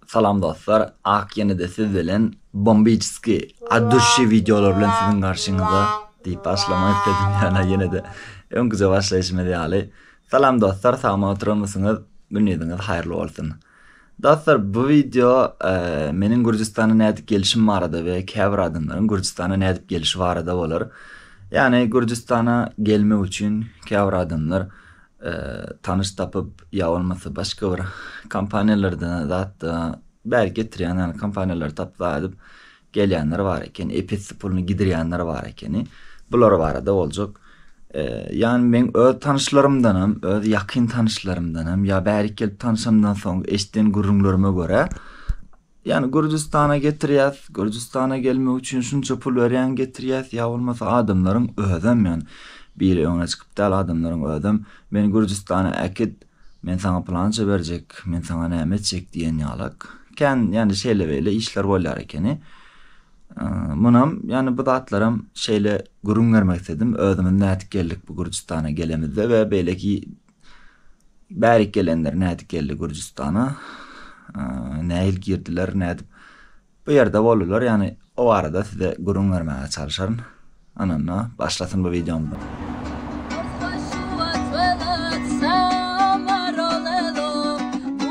Salam dostlar ak ýenede siz bilen bombiçski at duşi wideolar bilen siziň garşyňyzda diýip başlamak isledim ýöne ýenede öňküje başlaýşymyz ýaly Salam dostlar sagmy oturanmysyňyz günüziňiz haýyrly bolsun Dostlar bu wideo meniň gürjistana nädip gelişim barada we käbir adamlaryň gürjistana nädip gelişi barada bolar ýagny gürjistana gelmek üçin käbir adamlar tanyş tapyp ýa bolmasa başga bir kompaniýalardan zat bäri getirýän ýaly kompaniýalary tapyp aýdyp gelýänler bar eken episi puluny gidirýänler bar ekeni bular barada boljak ýani meň öz tanyşlarymdan hem öz ýakyn tanyşlarymdan hem ýa bärik gelip tanyşamdan soň eşden gürrüňlerime görä Ýani Gürjüstana getirýäs, Gürjüstana gelmek üçin şunça pul berýän getirýäs ýa bolmasa adamlaryň özem ýani biri öňüne çykyp däl adamlaryň özem meni Gürjüstana äkit men saňa pylança berjek men saňa näme etjek diýen ýalak kän ýani şeýle beýle işler bolýar ekeni munam ýani bu zatlaram şeýle gürüň bermek isledim özümiz nädip geldik bu Gürjüstana gelemizde we beýleki Bärik gelenler nädip geldi Gürjüstana? Nähili girdiler, nädip bu ýerde boldular? Ýagny o barada size gürrüň bermäge çalşaryn. Ananda başlasyn bu wideomyz.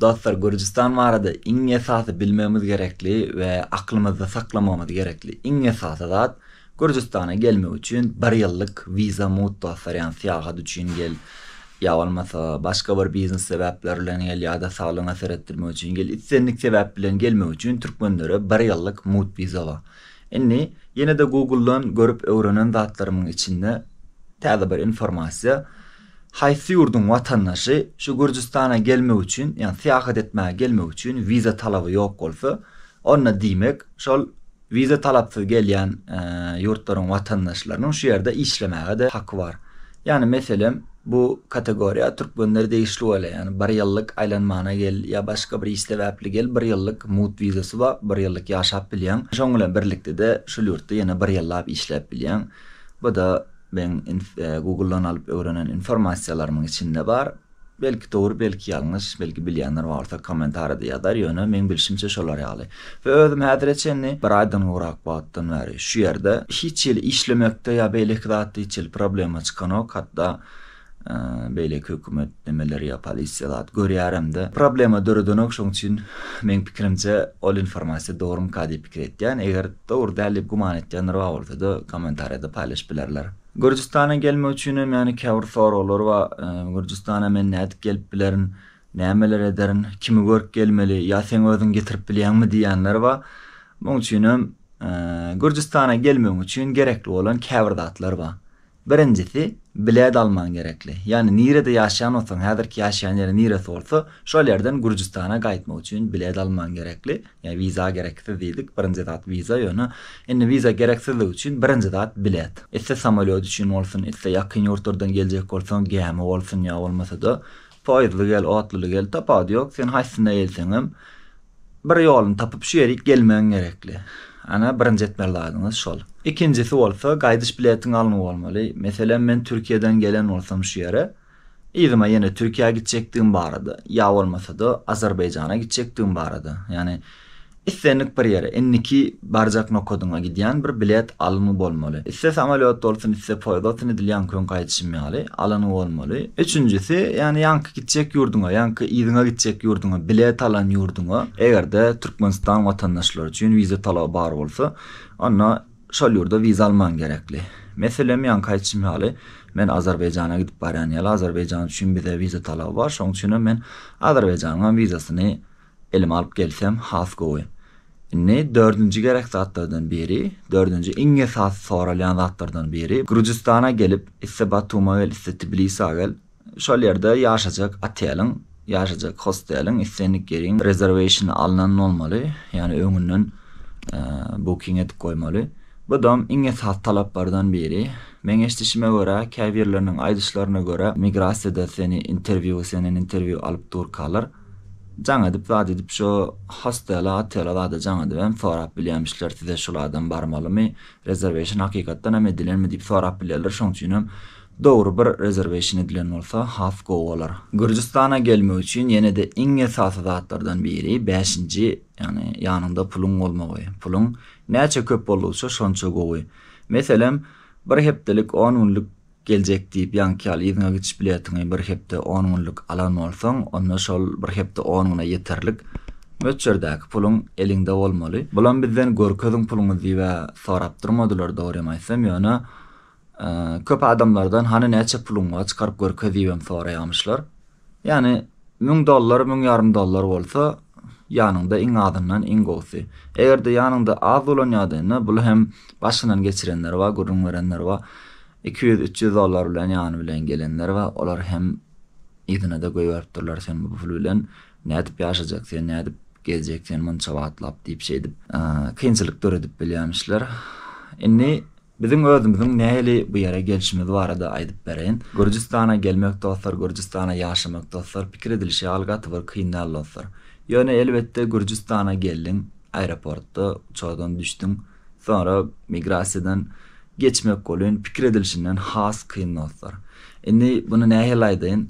Dostlar Gürjüstan barada iň esasy bilmegimiz gerekli we aklymyzda saklamagymyz gerekli iň esasy zat Gürjüstana gelmek üçin bir ýyllyk wiza mut dostlar ýagny syýahat üçin gel ýa bolmasa başga bir biznes sebäpler bilen gel ýa-da saglygyňa seretdirmek üçin gel islendik sebäp bilen gelmek üçin türkmenlere bir ýyllyk mut wiza bar indi ýene-de google dan görüp öwrenen zatlarymyň içinde täze bir informasiýa Haýsy ýurduň watandaşy şu Gürjüstana gelmek üçin, ýagny syýahat etmäge gelmek üçin wiza talaby ýok bolsa, onda diýmek, şol wiza talapsyz gelýän ýurtlaryň watandaşlarynyň şu ýerde işlemäge-de haky bar. Ýagny meselem, bu kategoriýa türkmenlere degişli bolýar, ýagny bir ýyllyk aýlanmana gel ýa başga bir iş sebäpli gel, bir ýyllyk mugt wizasy bar, bir ýyllyk ýaşap bilýäň. Şoň bilen birlikde-de şol ýurtda ýene bir ýyllap işläp bilýäň. Bu-da. Meň Google-dan alyp öwrenen informasiýalarymyň içinde bar. Belki dogry, belki ýalňyş, belki bilýänler bar bolsa kommentariýada ýazar, ýöne meň bilşimçe şolar ýaly. We özüm häzire çenli bir aýdan gowrak wagtdan bäri şu ýerde. Hiç hili işlemekde ýa beýleki zatda hiç hili problema çykanok, hatda Beýleki hökümet nemeler ýa polisiýa zat görýäremde problema döredenok şoň üçin meň pikirimçe ol informasiýa dogrymyka diýip pikir etýän eger dogry däl diýip güman etýänler bar bolsada kommentariýada paýlaşyp bilerler. Gürjüstana gelmek üçinem ýagny käbir soraglar bar Gürjüstana men nädip gelip bilerin nämeler ederin kimi görüp gelmeli ýa seň özüň getirip bilýäňmi diýýänler bar muň üçinem Gürjüstana gelmegiň üçin gerekli bolan käbir zatlar bar Birinjisi, bile dalman gerekli. Ýagny nirede ýaşaýan bolsaň, häzirki ýaşaýan ýeriň niresi bolsa, şol ýerden Gürjüstana gaýtmak üçin bile dalman gerekli. Ýagny wiza gereksiz diýdik. Birinji zat wiza, ýöne indi wiza gereksizligi üçin birinji zat bilet. Iste samolýot üçin bolsun, iste ýakyn ýurtlardan geljek bolsaň, gämi bolsun ýa bolmasa-da Poýuzly gel, otluly gel, tapawudy ýok, sen haýsysyna gelseňem, bir ýoluny tapyp şu ýerik gelmegiň gerekli. Ana, birinji etmeli zadyňyz şol. Ikinjisi bolsa, gaýdyş biletiň alnygy bolmaly. Meselem, men Türkiýeden gelen bolsam şu ýere, yzyma ýene Türkiýä gitjekdigim barada, ýa bolmasa-da, Azerbaýjana gitjekdigim barada, ýagny, Islendik bir ýere, indiki barjak nokadyňa gidýän bir bilet alnygy bolmaly. Isse samolýot bolsun, isse poýez bolsun edil ýaňky gün gaýdyşym ýaly, alanygy bolmaly. Üçünjisi, ýagny ýaňky gitjek ýurduňa, ýaňky yzyňa gitjek ýurduňa, bilet alan ýurduňa, eger-de Türkmenistan watandaşlary üçin wiza talaby bar bolsa, onda şol ýurda wiza alman gerekli. Meselem, ýaňky aýdyşym ýaly, men Azerbaýjana gidip barýan ýaly, Azerbaýjan üçin bize wiza talaby bar, şonuň üçinem men Azerbaýjanyňam wizasyny Elime alyp gelsem has gowy. Indi dördünji gerek zatlardan biri, dördünji iň esasy soralýan zatlardan biri, Gürjüstana gelip, iste Batuma gel, iste Tbilisa gel, şol ýerde ýaşajak oteliň, ýaşajak hosteliň islendik ýeriň rezerwationy alnan bolmaly, ýagny öňünden booking edip goýmaly. Budam iň esasy talaplardan biri. Meň eşdişime görä, käbirleriniň aýdyşlaryna görä, migrasiýada seni interwýu, senden interwýu alyp durkalar. Jaň edip zat edip şo hostela otela zada jaň edip hem sorap bilýämişler size şul adam barmalymy rezerweşin hakykatdan hem edilenmi diýip sorap bilýärler şoň üçin hem dogry bir rezerweşin edilen bolsa has gowy bolar. Gürjüstana gelmek üçin ýene-de iň esasy zatlardan biri bäşinji ýagny ýanyňda puluň bolmagy. Puluň näçe köp boldugyça şonça gowy. Meselem bir hepdelik on günlük Geljek diýip ýaňky ýaly yzyňa gidiş biletiňi bir hepde on günlük alan bolsaň, onda şol bir hepde on güne ýeterlik möçberdäki puluň eliňde bolmaly. Bulam bizden görkeziň puluňyzy diýibä sorap durmadylar dogrym aýtsam, ýöne köp adamlardan hany näçe puluň bar çykaryp görkez diýibem soraýamyşlar. Ýani Müň dollar, müň ýarym dollar bolsa, ýanyňda iň azyndan iň gowusy. Eger-de ýanyňda az bolan ýagdaýynda, bul hem başyndan geçirenler bar, gürrüň berenler bar. Iki ýüz, üç ýüz dollar bilen ýany bilen gelenler bar. Olar hem yzyna-da goýberipdirler, sen bu pul bilen nädip ýaşajak, sen nädip gezjek, sen munça wagtlap diýip şeýdip kynçylyk döredip bilýärmişler. Indi. Biziň özümiziň nähili bu ýere gelşimiz barada aýdyp bereýin. Gürjüstana gelmek dostlar, Gürjüstana ýaşamak dostlar, pikir edilişi ýaly gaty bir kyn däl dostlar. Ýöne elbetde Gürjüstana geldiň, aeroportda uçardan düşdüň, soňra migrasiýadan geçmek bolýn, pikir edilişinden has kyn dostlar. Indi buny nähili aýdaýyn,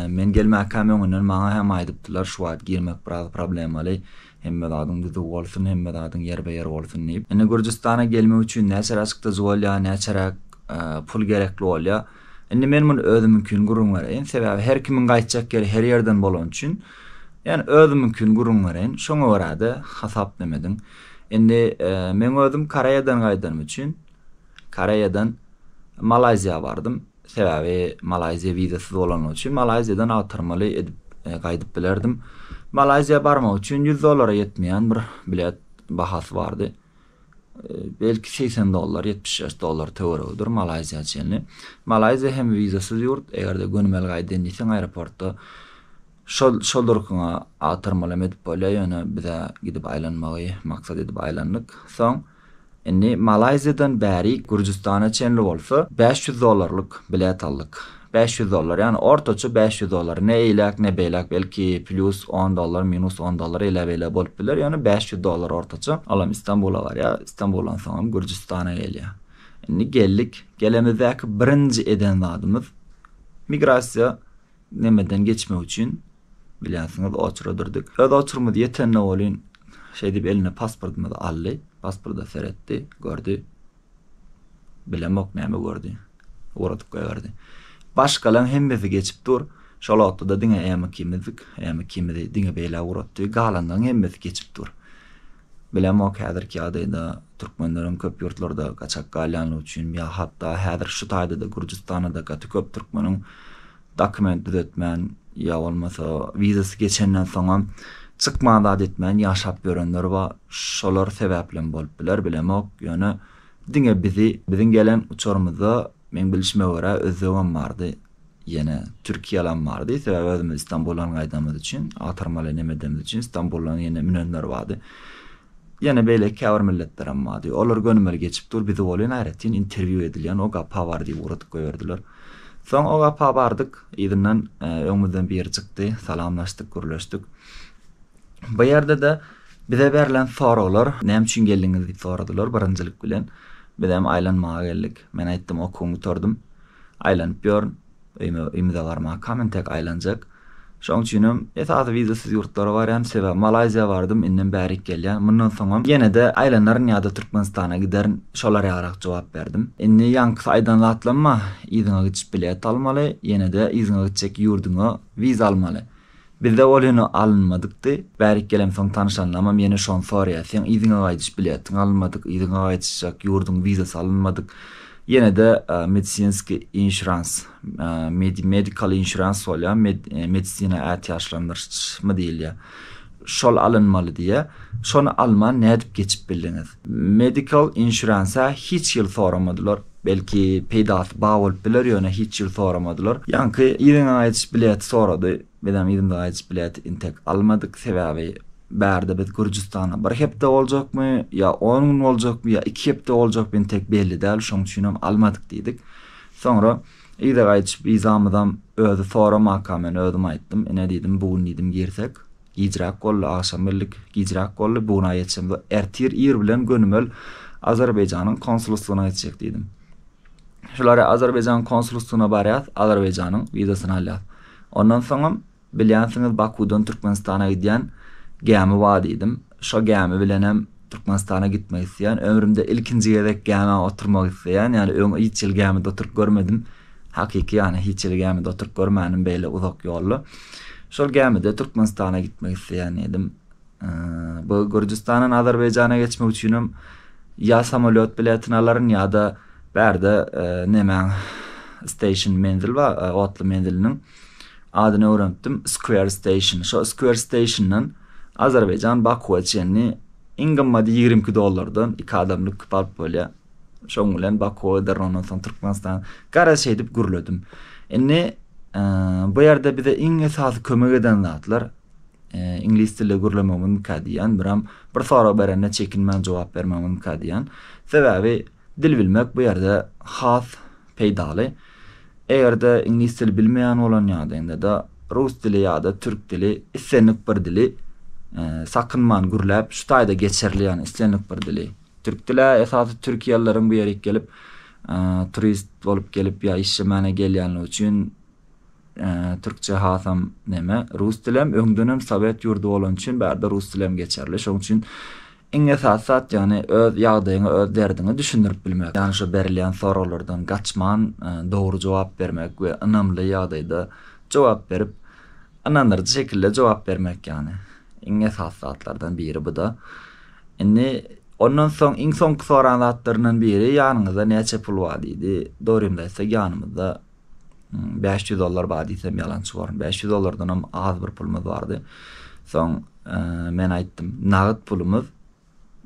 men gelmäkäm öňünden maňa hem aýdypdylar şu wagt girmek biraz problemaly, Hemme zadyň düzüw bolsun, hemme zadyň ýerbe-ýer bolsun diýip. Indi Gürjüstana gelmek üçin näçe raçk düz bolýar, näçeräk pul gerekli bolýar. Indi men muny özümiňkini gürrüň bereýin. Sebäbi her kimiň gaýtjak ýeri her ýerden bolany üçin, ýani özümiňkini gürrüň bereýin. Şoňa görä-de hasaplama ediň. Indi meň özüm Koreýadan gaýdanym üçin, Koreýadan Malaýziýa bardym. Sebäbi Malaýziýa wizasyz bolany üçin Malaýziýadan agtarmaly edip gaýdyp bilerdim. Malaýziýa barmak üçin ýüz dollara ýetmeýän bir bilet bahasy bardy. Belki segsen dollar, ýetmiş bäş dollar töweregidir Malaýziýa çenli. Malaýziýa hem wizasyz ýurt, eger-de gönümel gaýdyn diýseň aeroportda şol şol durkuňa agtarmaly hem edip bolýar, ýöne biz-ä gidip aýlanmagy maksat edip aýlandyk. Soň. Indi Malaýziýadan bärik Gürjüstana çenli bolsa bäş ýüz dollarlyk bilet aldyk. Bäş ýüz dollar, ýagny ortaça bäş ýüz dollar. Ne eýläk, ne beýläk, belki plýus on dollar, minus on dollar eýläbeýlä bolup biler, ýöne bäş ýüz dollar ortaça. Olam Istanbula barýar, Istanbuldan soňam Gürjüstana gelýär. Indi geldik. Gelemizde ki birinji eden zadymyz migrasiýa Nemeden geçmek üçin, bilýänsiňiz, oçura durdyk. Öz oçurymyz ýetende welin, şeýdip eline pasportymyzy aldy. Pasporda seretdi, gördi. Bilemok, näme gördi. Ugradyp goýberdi. Başgalaň hemmesi geçip dur. Şol wagtda-da diňe äm ikimizdik. Äm ikimizi diňe beýle ugratdy. Galanlaň hemmesi geçip dur. Bilemok häzirki ýagdaýda türkmenleriň köp ýurtlarda gaçak galýanlygy üçin ýa hatda häzir şu taýda-da Gürjüstanada gaty köp türkmeniň dokument düzetmän ýa bolmasa wizasy geçenden soňam çykman zat etmän ýaşap ýörenler bar şolar sebäplem bolup biler bilemok ýöne diňe bizi biziň gelen uçarymyzda meň bilişime görä özbegem bardy Ýene türkiýalam bardy. Sebäbi özümiz Stambuldan gaýdanymyz üçin, agtarmaly neme edenimiz üçin Stambuldan ýene münenler bardy. Ýene beýleki käbir milletlerem bardy. Olar gönümel geçip dur, bizi welin aýratyn interwýu edilýän o gapa bar diýip ugradyp goýberdiler. Soň o gapa bardyk. Yzyndan öňümizden biri çykdy. Salamlaşdyk, gürleşdik. Bu ýerde-de bize berlen soraglar, näme üçin geldiňiz diýip soradylar birinjilik bilen. Bizem aýlanmaga geldik. Men aýtdym, okuwymy gutardym. aýlanyp ýörün. Öýüme öýümize barmakam entek aýlanjak. Şoň üçinem esasy wizasyz ýurtlara barýan. Sebäbi Malaýziýa bardym, indem bärik gelýän. Mundan soňam ýene-de aýlanaryn ýa-da Türkmenistana giderin. Şolar ýalyrak jogap berdim. Indi ýaňkysy aýdan zatlamma, yzyňa gidiş bilet almaly, ýene-de yzyňa gitjek ýurduňa wiza almaly. Bizde ol heniz alynmadykdy. Bärik gelemsoň tanyşanlamam ýene şony soraýar, Seň yzyňa gaýdyş biletiň alynmadyk, yzyňa gaýdyşjak ýurduň wizasy alynmadyk, ýene-de medisinskiý inşurans, medical insurance bolýar, medisina ätiýaçlandyryşmy diýilýär. Şol alynmaly diýýä. Şony alman nädip geçip bildiňiz? Medical insurance-a hiç ýyl soramadylar. Belki peýdasy bar bolup biler ýöne hiç ýyl soramadylar. Ýaňky yzyna gaýdyş bileti sorady. Bizem yzyna gaýdyş bileti intek almadyk. Sebäbi bärde biz Gürjüstanda bir hepde boljakmy ýa on gün boljakmy ýa iki hepde boljakmy intek belli däl şoň üçinem almadyk diýdik. Soňra. Yza gaýdyşyp yzamyzam özi soramaka men özüm aýtdym, Ine diýdim, bu gün diýdim girsek, gijräk boldy, agşam geldik, gijräk boldy, bu gün aý ýetişemiz, ertir ir bilen gönümel Azerbaýjanyň konsulstwyna gitjek diýdim. Şular-ä Azerbaýjanyň konsulstwyna barýas, Azerbaýjanyň wizasyny alýas. Ondan soňam Bilýänsiňiz Bakudan Türkmenistana gidýän gämi bar diýdim. Şo gämi bilenem Türkmenistana gitmek isleýän. Ömrümde ilkinji gezek gämä oturmak isleýän. Ýaly öň hiç ýyl gämide oturyp görmedim. Hakyky ýany hiç ýyl gämide oturyp görmänim beýle uzak ýolda. Şol gämide Türkmenistana gitmek isleýän diýdim. Bu Gürjüstandan Azerbaýjana geçmek üçinem ýa samolýot biletini alaryn ýa-da bärde nemäň station menzil bar otly menziliniň. Adyny öwrenipdim, Square Station. Şo Square Station-dan Azerbaýjan Bakuwa çenli iň gymmaty ýigrimi iki dollardan iki adamlyk kip alyp bolýar. Şoň bilen Bakuwa giderin, ondan soň Türkmenistan. Garaz şeýdip gürledim. Indi bu ýerde bize iň esasy kömek eden zatlar iňlis dilde gürlemegimiz mükâ diýýän, biram bir sorag berende çekinmän jogap bermegimiz mükâ diýýän. Sebäbi Dil bilmek bu ýerde has peýdaly. Eger-de iňlis dili bilmeýän bolan ýagdaýyňda-da rus dili ýa-da türk dili, islendik bir dili, sakynman gürläp, şu taýda geçerli ýagny islendik bir dili, türk dili-ä esasy türkiýelilerin bu ýerik gelip turist bolup gelip ýa işlemane gelýänligi üçin türkçe hasam neme, rus dilem öňdenem sowet ýurdy bolany üçin bärde rus dilem geçerli şoň üçin Iň esasy zat ýagny öz ýagdaýyňy öz derdiňi düşündirip bilmek. Ýagny şu berilýän soraglardan gaçman dogry jogap bermek we ynamly ýagdaýda jogap berip ynandyryjy şekilde jogap bermek ýagny iň esasy zatlardan biri bu-da. Indi ondan soň iň soňky soran zatlaryndan biri ýanyňyzda näçe pul bar diýdi. Dogrymy aýtsak ýanymyzda Bäş ýüz dollar bar diýsem ýalançy borun. Bäş ýüz dollardanam az bir pulumyz bardy. Soň men aýtdym, nagyt pulumyz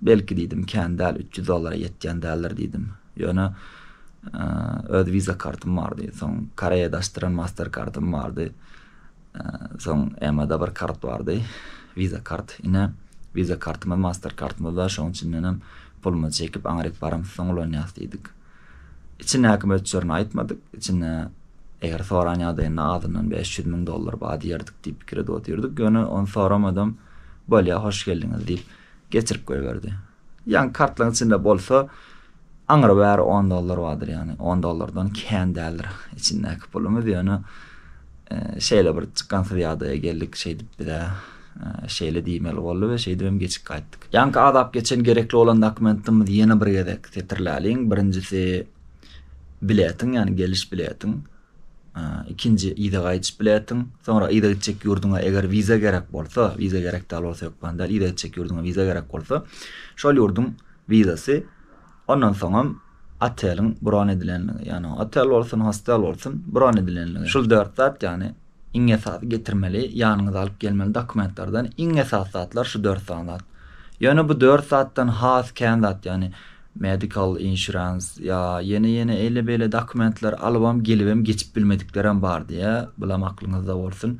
belki diýdim kän däl, üç ýüz dollara ýetýän däldir diýdim. Ýöne öz Visa kartym bardy. Soň Koreýa daşdyran Master kartym bardy. Soň EMA-da bir kart bardy. Visa kart. Ine Visa kartymyz Master kartymyz bar. Şoň üçin menem pulumyzy çekip aňryk baramyzsoň ulanýas diýdik. Içindäki möçberini aýtmadyk, içinde eger soran ýagdaýynda azyndan bäş ýüz müň dollar bar diýerdik diýip pikir edip otyrdyk, ýöne ony soramadam, Bolýa, hoş geldiňiz diýip, geçirip goýberdi. Ýaňky kartlaryň içinde bolsa, aňry bäri on dollar bardyr, ýagny on dollardan kän däldir içindäki pulumyz, ýöne şeýle bir çykansyz ýagdaýa geldik, şeýdip biz-ä Şeýle diýmeli boldy we şeýdibem geçip gaýtdyk. Ýaňky azap geçen gerekli bolan dokumentimizi ýene bir gezek setirläliň. Birinjisi biletiň, ýagny geliş biletiň. Ikinji yza gaýdyş biletiň. Soňra yza gitjek ýurduňa eger wiza gerek bolsa, wiza gerek däl bolsa hökman däl, yza gitjek ýurduňa wiza gerek bolsa, şol ýurduň wizasy Ondan soňam oteliň bron edilenligi, ýagny otel bolsun, hostel bolsun bron edilenligi. Şul dört zat, ýagny iň esasy getirmeli, ýanyňyza alyp gelmeli dokumentlerden iň esasy zatlar şu dört sany zat. Ýöne bu dört zatdan has kän zat, ýagny medical insurance ýa ýene-ýene eýle-beýle dokumentler alybam gelibem geçip bilmediklerem bar diýä, bulam aklyňyzda bolsun.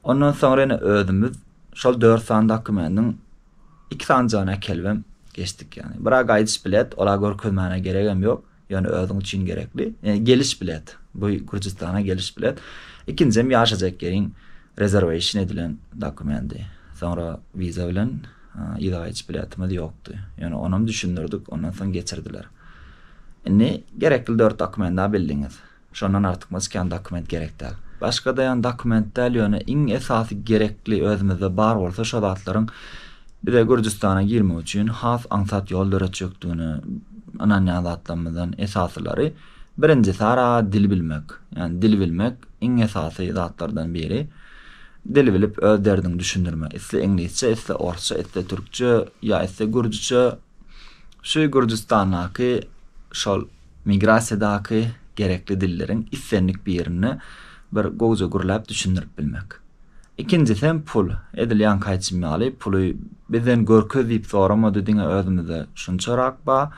Ondan soňra ýene özümiz şol dört sany dokumendiň Iki sanjygyny äkelibem geçdik ýagny. Bira gaýdyş bilet, ola görkezmäne geregem ýok, ýöne özüň üçin gerekli. Ýöne geliş bilet, bu Gürjüstana geliş bilet. Ikinjem ýaşajak ýeriň rezerweýşin edilen dokumendi. Soňra wiza bilen yza gaýdyş biletimiz ýokdy. Ýöne onam düşündirdik, ondan soň geçirdiler. Indi gerekli dört dokumendaa bildiňiz. Şondan artykmaç kän dokument gerek däl. Başga daýan dokument däl ýöne iň esasy gerekli özümizde bar bolsa şo zatlaryň bize Gürjüstana girmek üçin has aňsat ýol döretjekdigine ynanýan zatlarymyzdan esasylary birinji sara dil bilmek. Ýani dil bilmek iň esasy zatlardan biri. Dil bilip öz derdiňi düşündirme. Isle iňlisçe isle orsça isle türkçe ýa isle gürjüçe şu Gürjüstandaky şol Migrasiýadaky gerekli dilleriň islendik birinde bir gowja gürläp düşündirip bilmek. Ikinjisem pul. Edil ýaňky aýtşym ýaly, puly bizden görkez diýip soramady, diňe özümizde şunçarak ba,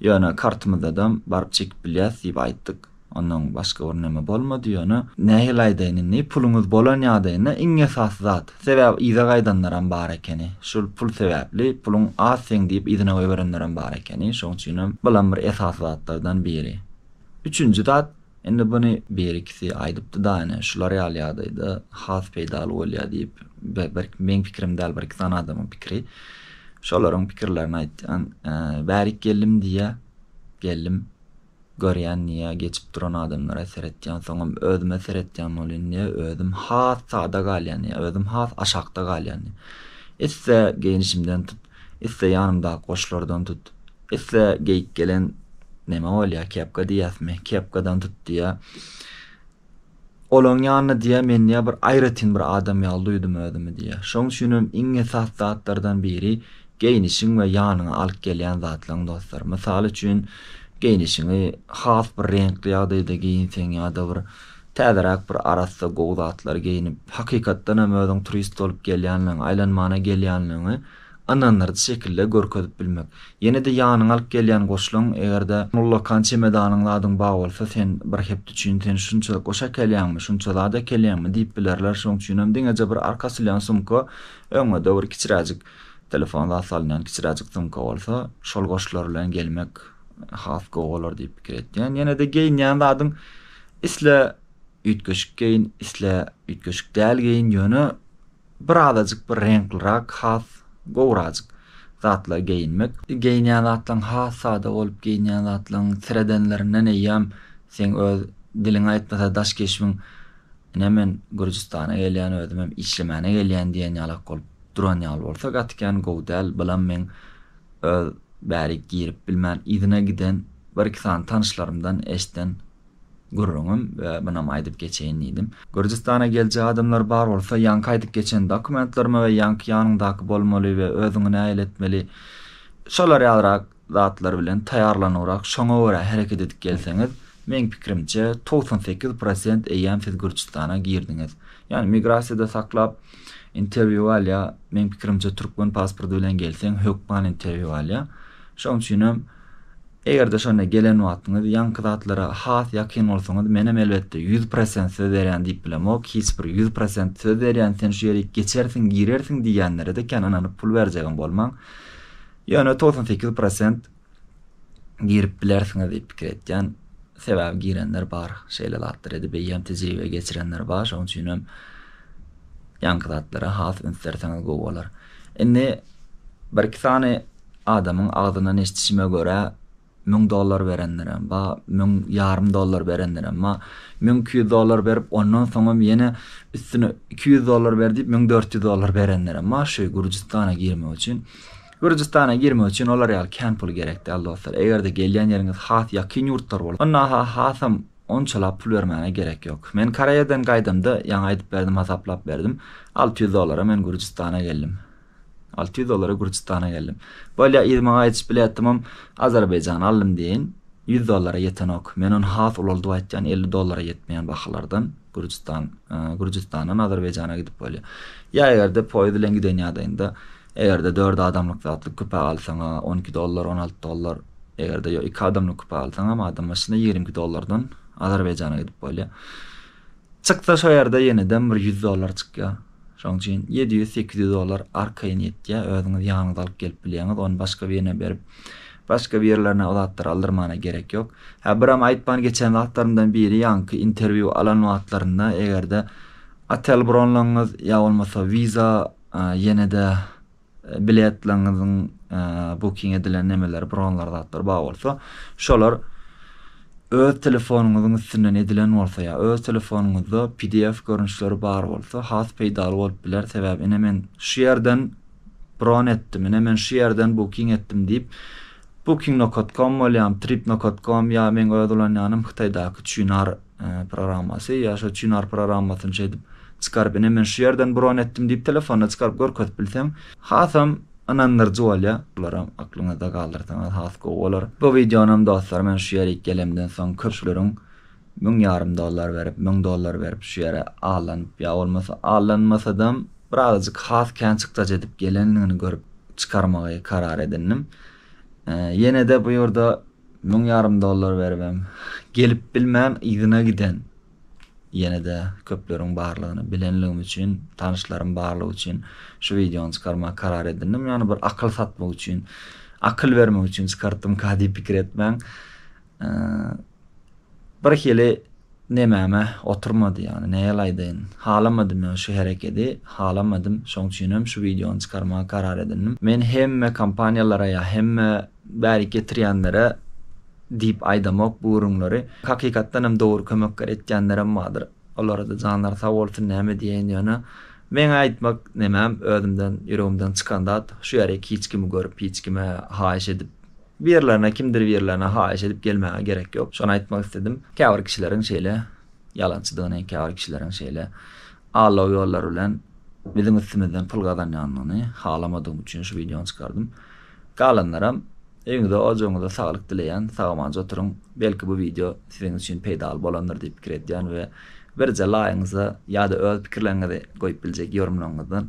ýöne kartymyzdadam baryp çekip bilýäs diýip aýtdyk. Ondan başga bir näme bolmady, ýöne nähili aýdaýyn indi, puluňyz bolan ýagdaýynda iň esasy zat, Sebäbi yza gaýdanlaram bar ekeni. Şul pul sebäpli, puluň az seň diýip yzyna goýberenlerem bar ekeni. Şoň üçinem bulam bir esasy zatlardan biri. Üçünji zat, indi buny birikisi aýdypdy-da, ine, şular ýaly ýagdaýda has peýdaly bolýar diýip, berk meň pikirim däl, bir-iki sany adamyň pikiri. Şolaryň pikirlerini aýtýan, Bärik geldim diýýär. Geldim. Görýän niýe geçip duran adamlara seretýän soňam özüme seretýän bolýan niýe özüm has sada galýan niýe özüm has aşakda galýan niýe isse geýnişimden tut isse ýanymdaky goşlardan tut isse geýip gelen neme bolýa kepka diýýäsmi kepkadan tut diýe Olaň ýanyna diýýär, men diýýär, bir aýratyn bir adam ýaly duýdum özümi diýýär. Şoň üçin hem iň esasy zatlardan biri geýnişiň we ýanyňa alyp gelýän zatlaryň dostlar. Mysal üçin, geýnişiňi has bir reňkli ýagdaýda geýinseň ýa-da bir täzeräk bir arassa gowy zatlary geýnip, hakykatdan hem özüň turist bolup gelýänligiňi, aýlanmana gelýänligiňi Ynandyrjy şekilde görkezip bilmek. Ýene-de ýanyňa alyp gelýän goşlaň, eger-de ullakan çemedanyň zadyň bar bolsa, sen bir hepde üçin sen şunça goş äkelýäňmi, şunça zat äkelýäňmi diýip bilerler. Şoň üçinem diňeje bir arka asylýan sumka, öňe de bir kiçiräjik telefon zat salynýan kiçiräjik sumka bolsa, şol goşlar bilen gelmek has gowy bolar diýip pikir etýän. Ýene-de geýinýän zadyň isle üýtgeşik geýin, isle üýtgeşik däl geýin, ýöne Bir azajyk bir reňklirak has gowrajyk zatlar geýinmek. Geýinýän zatlaň has sada bolup geýinýän zatlaň seredenlerinden eýýäm seň öz diliň aýtmasa daş keşbiň ine men Gürjüstana gelýän özümem işlemäne gelýän diýen ýalak bolup duran ýaly bolsa gaty kän gowy däl bylam meň öz bärik girip bilmän yzyna giden bir iki sany tanyşlarymdan eşden Gürrüňim we munam aýdyp geçeýin diýdim. Gürjüstana geljek adamlar bar bolsa ýaňky aýdyp geçen dokumentlerime we ýaňky ýanyňdaky bolmaly we özüňi nähili etmeli şolar ýalyrak zatlar bilen taýýarlanyňrak şoňa görä hereket edip gelseňiz meň pikirimçe togsan sekiz prosent eýýäm siz Gürjüstana girdiňiz ýani migrasiýada saklap interwýu alýa meň pikirimçe türkmen pasporty bilen gelseň hökman interwýu alýa şoň üçinem Eger-de şonda gelen wagtyňyz ýaňky zatlara has ýakyn bolsaňyz, menem elbetde ýüz prosent söz berýän diýip bilemok, hiç bir ýüz prosent söz berýän sen şu ýerik geçersiň, girersiň diýýänlere-de kän ynanyp pul berjegem bolmaň. Ýöne togsan sekiz prosent girip bilersiňiz diýip pikir etýän. Sebäbi girenler bar, şeýle zatlar edip eýýäm tejribe geçirenler bar, şonuň üçinem ýaňky zatlara has üns berseňiz gowy bolar. Indi bir-iki sany Adamyň agzyndan eşdişime görä, müň dollar berenlerem bar, müň ýarym dollar berenlerem bar, müň iki ýüz dollar berip, ondan soňam ýene üstüne iki ýüz dollar ber diýip, müň dört ýüz dollar berenlerem bar şu Gürjüstana girmek üçin. Gürjüstana girmek üçin olar ýaly kän pul gerek däl, dostlar. Eger-de gelýän ýeriňiz has ýakyn ýurtlar bolsa, onda-ha hasam onçalap pul bermäne gerek ýok. Men Koreýadan gaýdamda, ýaňy aýdyp berdim, hasaplap berdim, alty ýüz dollara men Gürjüstana geldim. Alty ýüz dollara Gürjüstana geldim. Bolýa, yzy maňa aýdyşyp bilýätdimem, Azerbaýjany aldym deýin, ýüz dollara ýetenok. Men ony has ulaldyp aýtýan, elli dollara ýetmeýän bahalardan Gürjüstan, Gürjüstandan Azerbaýjana gidip bolýar. Ýa eger-de poýez bilen giden ýagdaýynda, eger-de dört adamlyk zatly küpe alsaň-a, on iki dollar, on alty dollar, eger-de ýok, iki adamlyk küpe alsaňam, adam başyna ýigrimi iki dollardan Azerbaýjana gidip bolýar. Çyksa şo ýerde ýenedem bir ýüz dollar çykýar. Şoň üçin ýedi ýüz, sekiz ýüz dollar arkaýyn ýetýär. Özüňiz ýanyňyza alyp gelip bilýäňiz. Ony başga birine berip, başga bir ýerlerine o zatlary aldyrmana gerek ýok. Hä, biram aýtman geçen zatlarymdan biri, ýaňky interwýu alan wagtlarynda eger-de otel bronlaňyz ýa bolmasa wiza ýene-de Biletlaňyzyň booking edilen nemeleri bronlar zatlar bar bolsa şolar öz telefonyňyzyň üstünden edilen bolsa ýa öz telefonyňyzda pdf görnüşleri bar bolsa has peýdaly bolup biler sebäbi ine men şu ýerden bron etdim ine men şu ýerden booking etdim diýip booking nokot kom bolýam trip nokot kom ýa meň öz ulanýanym hytaýdaky çynar programmasy, ýa şo Çynar programmasyny şeýdip çykaryp, ine men şu ýerden bron etdim diýip telefonda çykaryp görkezip bilseň, hasam ynandyryjy bolýar. Bularam aklyňyzda galdyrsaňyz has gowy bolar. Bu wideonam dostlar men şu ýerik gelemden soň köpçüleriň müň ýarym dollar berip, müň dollar berip şu ýere allanyp, ýa bolmasa allanmasadam birazajyk has kän çykdajy edip gelendigini görüp çykarmagy karar edindim. Ýene-de bu ýurda Müň ýarym dollar beribem gelip bilmän yzyna giden ýene-de köpleriň barlygyny bilenligim üçin tanyşlarym barlygy üçin şu wideony çykarmagy karar edindim ýagny bir akyl satmak üçin akyl bermek üçin çykartdymka diýip pikir etmäň birhili nemäme oturmady ýagny näýaly aýdaýyn halamadym ýagny şu herekedi halamadym şoň üçinem şu wideony çykarmagy karar edindim men hemme kompaniýalara ýa hemme Bärik getirýänlere diýip aýdamok bu gürrüňleri. Hakykatdan hem dogry kömekler etýänlerem bardyr. Olara-da janlary sag bolsun näme diýeýin ýöne. Meň aýtmak nemem özümden ýüregimden çykan zat şu ýerik hiç kimi görüp hiç kime haýyş edip birlerine kimdir birlerine haýyş edip gelmäge gerek ýok şony aýtmak isledim. Käbir kişileriň şeýle ýalançydygyny käbir kişileriň şeýle Aldaw ýollary bilen biziň üstümizden pul gazanýanyny halamadygym üçin şu wideony çykardym. Galanlaram öýüňize ojagyňyza saglyk dileýän sagamanjy oturyň belki bu wideo siziň üçin peýdaly bolandyr diýip pikir edýän we birje laýyňyza ýada öz pikirleriňizi goýup biljek ýorumlaryňyzdan